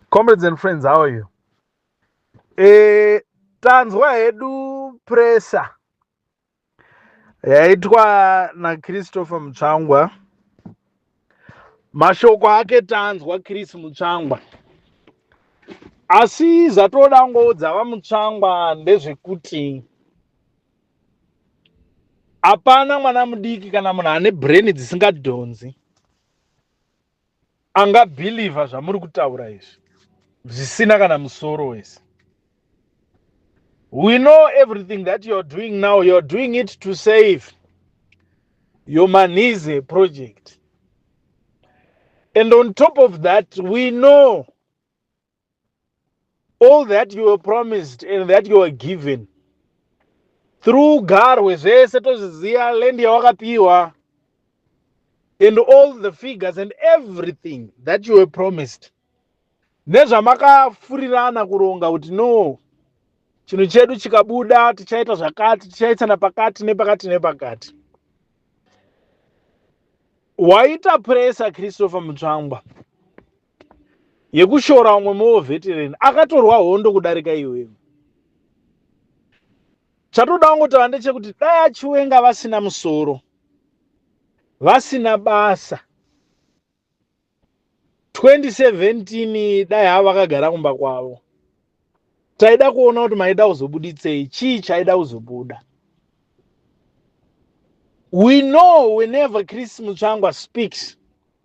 Comrades and friends, how are you? Eh, tanzwa hedu pressure yaitwa naChristopher Mutsvangwa. Mashoko ake tanzwa Chris Mutsvangwa. Asi zvatoda ngoudza vaMutsvangwa ndezvekuti hapana mwana mudiki kana munhu ane brain dzisingadhonzi anga believer zvamuri kutaura izvi zvisina kana musoro wese we know everything that you're doing now you're doing it to save your manize project and on top of that we know all that you were promised and that you were given through garwe zvese tozviziva land yawakapiwa and all the figures and everything that you were promised nezvamakafurirana kuronga kuti no chinhu chedu chikabuda tichaita zvakati tichaitsana pakati nepakati nepakati waita presa christopher mutsvangwa yekushora umwe more veteran akatorwa hondo kudarika iwewe chatoda kungotava ndechekuti dai achiwenga vasina musoro vasina basa 2017 dai havo vakagara kumba kwavo taida kuona kuti maida kuzobuditsei chii chaida kuzobuda we know whenever chris mutsvangwa speaks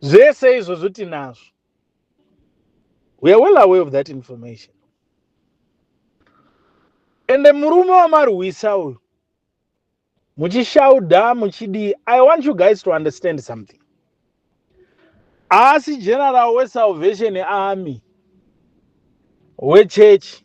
zvese izvozvo tinazvo we are well aware of that information ende murume wamarwisa uyu muchishauda muchidii i want you guys to understand something haasi general wesalvation army wechurch